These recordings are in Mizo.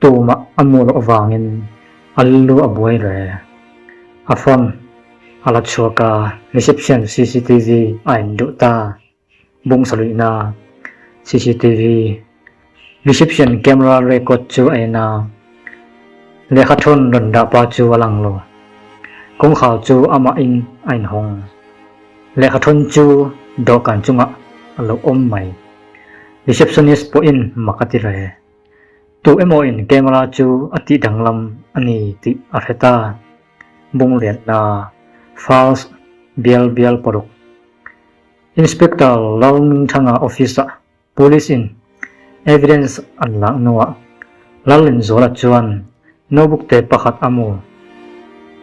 Tuma a mu loh vangin a lu a buai hle. A phone a la chhuak a, reception cctv a in duh ta. Bungsa luihna cctv reception camera record chu a en a, lehkha thawn rawn dah pa chu a lang lo. Kawngkhar chu amah in a in hawng. Lehkha thawn chu dawhkan chungah a lo awm mai. Receptionist pawhin mak a ti hle. Tuh emaw in camera chu a tih danglam a ni tih a hret a, bung lian hna, false bial bial paruk. Inspector Lalmingthanga office-a police in evidence an lak hnuah Lalinzuala chuan nobukte pakhat a mu,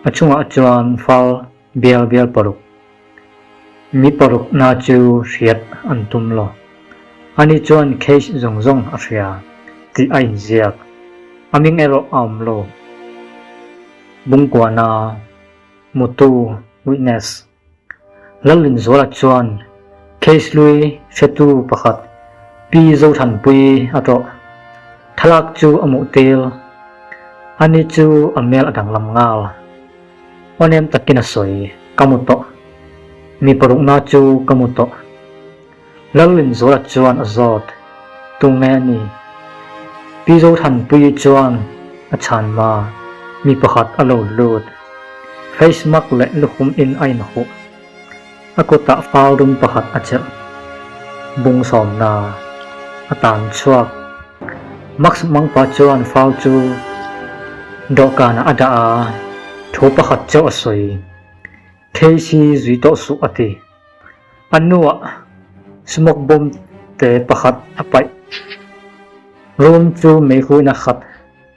a chungah chuan fal, Bial bial paruk. Mi paruk na chu hriat an tum lo. Ani chuan case zawng zawng a hria tih a inziak. A ming erawh a awm lo. Bungkuah na hmutu witness Lalrinzuala chuan case hlui hretu pakhat Pi Zothanpui a tlawh. Thlalak chu a muh tel. Ani chu a hmel a danglam nghal. Awnem takin a sawi, ka mu tawh. Mi parukna chu ka mu tawh. Lalrin zawlah chuan a zawt. Tunge a ni? Pi Zothanpuii chuan a chhan ma mi pakhat a lo lut. Face mak leh lukhum in a inhuh. A kutah fal dum pakhat a chelh bung sawmna a tan chhuak. Max mangpa chuan fal chu dawhkanah a dah a, thu pakhat chu a sawi. Casey zui tawh suh a ti. A hnuah smoke bomb te pakhat a paih. Room chu meihuina khat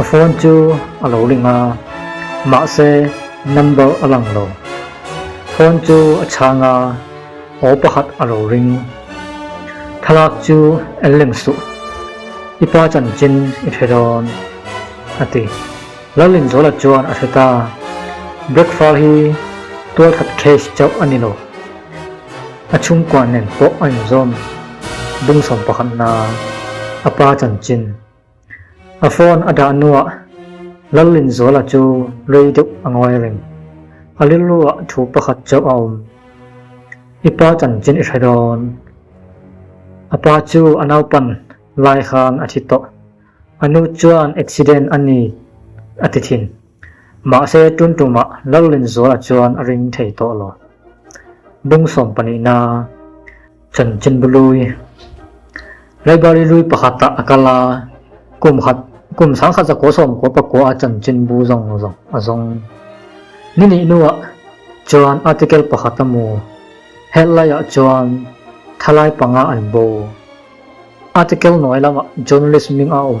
A phone chu a lo ring a, mahse number a lang lo. Phone chu a chhang a, aw pakhat a lo ring. Thlalak chu en lem suh, i pa chanchin i hre dawn, a ti. Lallinzawla chuan a hre ta, Breakfast hi tualthat case chauh a ni lo. A chhungkua nen pawh a inzawm bungsawm pakhatna a pa chanchin. A phone a dah nuah Lalin Zuala chu rei deuh a ngawi reng. A lirruah thu pakhat chauh a awm. I pa chanchin i hre dawn. A pa chu a naupan lai khan a thi tawh. A nu chuan accident a ni a ti thin. Mahse tum tuma Lalrinzuala chuan a ring thei tawh lo. Bungsawm panihna Chawn Chinbu Lui, Laibari Lui pakhata a kal a, kum khat, kum sangkhat zakua sawm kua pakua a Chawn Chinbu zawng zawng a zawng. Ni nih hnuah chuan article pakhat a mu, helh laiah chuan thalai panga an bo. Article hnuai lamah journalist hming a awm.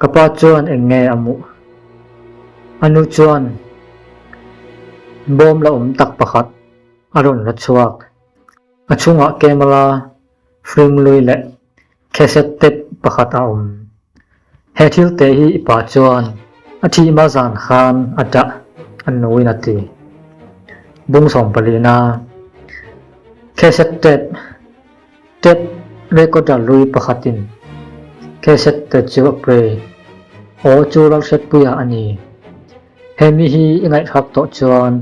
Ka pa chuan eng nge a muh? A nu chuan bawm la awm tak pakhat a rawn la chhuak. A chhungah camera, film lui leh cassette tape pakhat a awm. He thil te hi i pa chuan a thih mahzan khan a tah, a nuin a ti. Bung sawmpalina cassette tape Tape recorder lui pakhatin cassette te chu a play. Aw chu Lalhriatpuia a ni. He mi hi i ngaihruak tawh chuan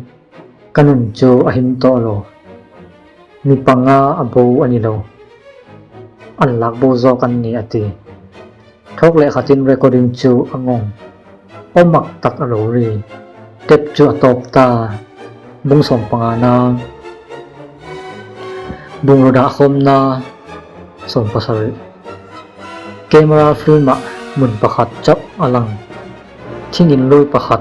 ka nun chu a him tawh lo. Mi panga a bo a ni lo. An lak bo zawk an ni a ti. Thawk leh khatin recording chu a ngawng aw mak tak a lo ri. Tape chu a tawp ta, bung sawm panga na, bungraw dah khawm na sawm pasarih. Camera film ah hmun pakhat chauh a lang, thingin lawi pakhat.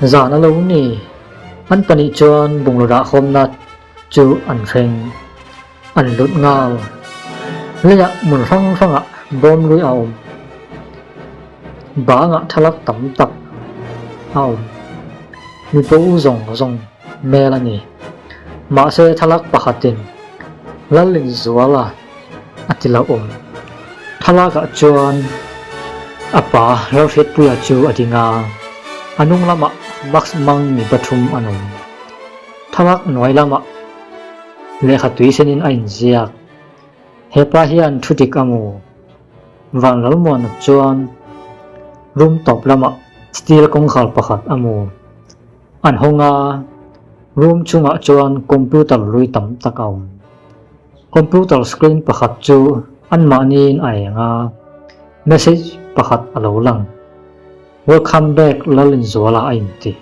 Zan a lo ni. An pahnih chuan bungraw rahawmna chu an hreng, an lut nghal. Leiah hmun hrang hrangah bawmrui a awm. Banga thalak tam tak a awm. Mi pawl zawng zawng hmel a ni. Mahse, thlalak pakhatin lal inzuala. a ti loh awm. Thlalakah chuan a pa Rohriatpuia chu a ding a, a hnung lamah Max Mang mi pathum an awm. Thlalak hnuai lamah lehkha tui senin a inziak, Hepa hian thu dik a mu. Van Lalmuana chuan room tawp lamah steel kawngkhar pakhat a mu. An hawng a, room chungah chuan computer rui tam tak a awm. Computer screen pakhat chu anmahniin a eng a, message pakhat a lo lang. Welcome back Lalinzuala a inti.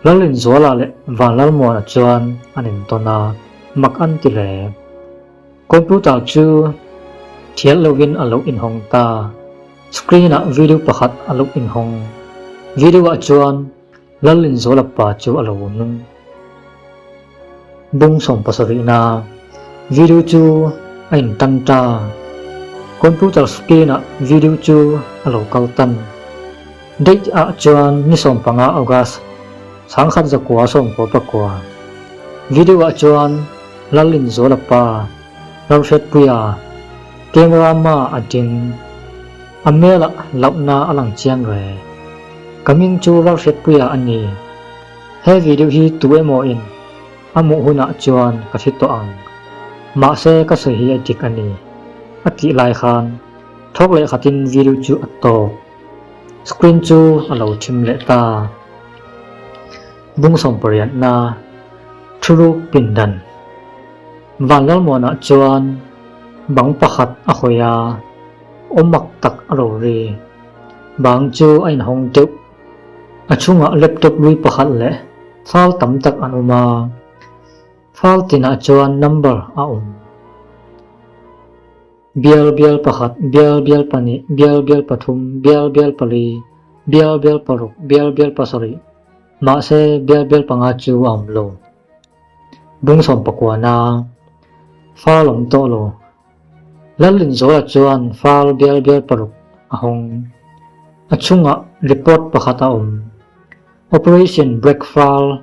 Lalinzuala leh Vanlalmuana chuan an intawn a, mak an ti hle. Computer chu thial lovin a lo inhawng ta. Screen-ah video pakhat a lo inhawng. Video-ah chuan. Lal inzawla pa chu a lo nung bung sawmpasa rihna video chu a in tan ta. Computer screen ah video chu a lo kal tan. Date ah chuan ni sawm panga August sangkhat zakua sawmkua pakua. Video ah chuan Lal inzawla pa Lalhriatpuia camera hma a ding. A mela lauhna a lang chiang re. Ka ming chu Ralhriatpuia a ni. He video hi tu emaw in a hmuh hunah chuan ka hre tawh ang. Mahse ka sawi hi a dik a ni. A tih lai khan thawk leh khatin video chu a tawk. Screen chu a lo thim leh ta. Bung sawmpariatna, thuruk pindan. Van Lalmuana chuan bang pakhat a hawi a. Awmak tak a rawn ri. Bang chu a inhawng deuh. A chhungah laptop rui pakhat leh file tam tak an awm a. File tinah chuan number a awm. Bial bial pakhat, bial bial pahnih, bial bial pathum, bial bial pali, bial bial paruk, bial bial pasarih, mahse bial bial panga chu a awm lo. Bungsawm pakua na. File awm tawh lo. Lalrinzawla chuan file bial bial paruk a hawng. A chungah report pakhat a awm. Operation Break File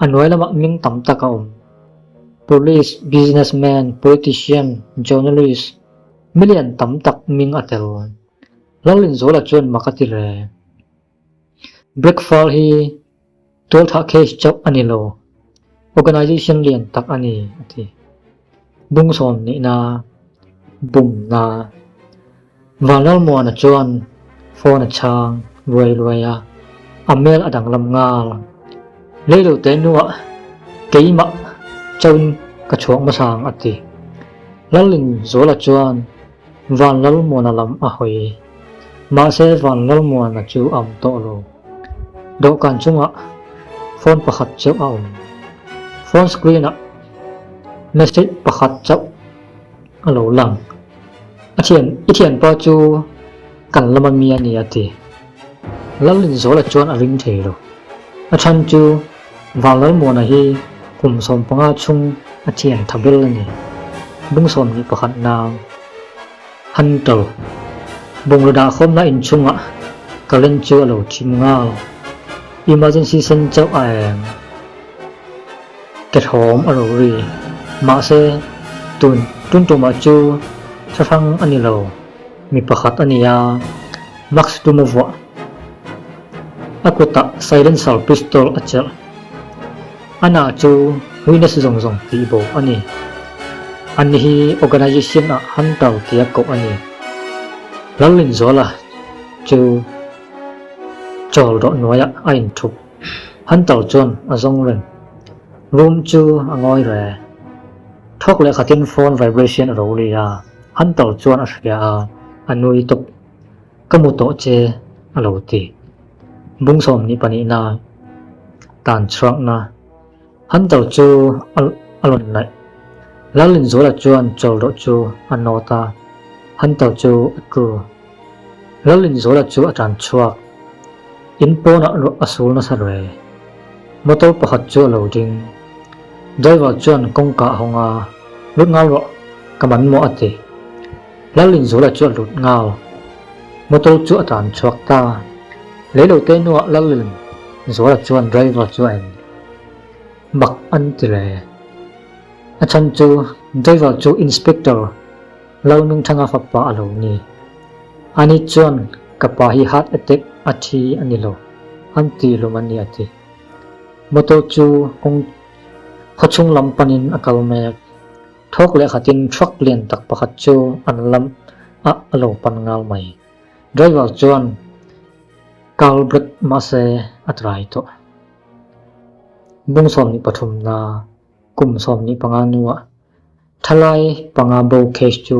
a hnuai lamah ming tam tak a awm. Police, businessman, politician, journalist, million tam tak ming a tel. Lalrinzawla chuan mak a ti reng. Bric fal hi tualthah case chauh a ni lo, organisation lian tak a ni, a ti. Bungsawm nihna bum hna. Van Lalmuana chuan phone a chhang ruai ruai a, a mail a danglam nghal. Leilote hnuah keimah chauhin ka chhuak hmasa ang, a ti. Lalin Zawla chuan. Van Lalmuana lam a hawi. Mahse Van Lalmuana chu a awm tawh lo. Dawhkan chungah phone pakhat chauh a awm. Phone screen-ah message pakhat chauh a lo lang. A thian, i thianpa chu kan lama mi a ni a ti. Lalinzawla chuan a ring thei lo. A chhan chu Vang Lalmuana hi kum sawm panga chung a thian tha ber a ni. Bungsawm ni pakhat nang han to. Bungraw dah khawmna in chungah current chu a lo thim ngau. Emergency sen chauh a eng. Kehlawm a lo ri. Mahse, tun tun tumah chu thla hrang a ni lo. Mi pakhat a ni a. Max tum a vuah. A kutah silencer pistol a chelh. A na chu huines zawng zawng tih bo a ni. An ni hi organization ah hunter tih a koh a ni. Hlalinzuala chu chawl rawh nuaiah a inthup. Hunter chuan a zawng reng. Room chu a ngawi re. Thawk leh khatin phone vibration a lo ri a. Hunter chuan a hria a, a nui tawp. Ka hmu tawh che a lo ti. Bungsawm nih panihna tan chhuakna Hunter chu a lawn naih. Lalin Zula chuan chawl rawh chu a nawt a, Hunter chu a tlu. Lalin Zula chu a tan chhuak. In pawnah ruah a sul nasa rei. Motor pakhat chu a lo ding. Driver chuan kawngka a hawng a, Lut nghal rawh, ka man maw a ti. Lalin Zola chu a lut ngau. Motor chu a tan chhuak ta. Lei lo te hnua Lalin Zola chuan driver chu a en bak an ti le. A chhan chu driver chu Inspector Lalmingthanga fapa a lo ni. Ani chuan ka pa hi heart attack a thi a ni lo an ti hlawm a ni a ti. Motor chu kawng khawchhung lam panin a kal mek. Thawk leh khatin truck lian tak pakhat chu an lam ah a lo pan ngal mai. Driver chuan kal bret mahse a try tawh. Bung sawmhnih pathum hna, kum sawmhnih panga hnuah thalai panga bo case chu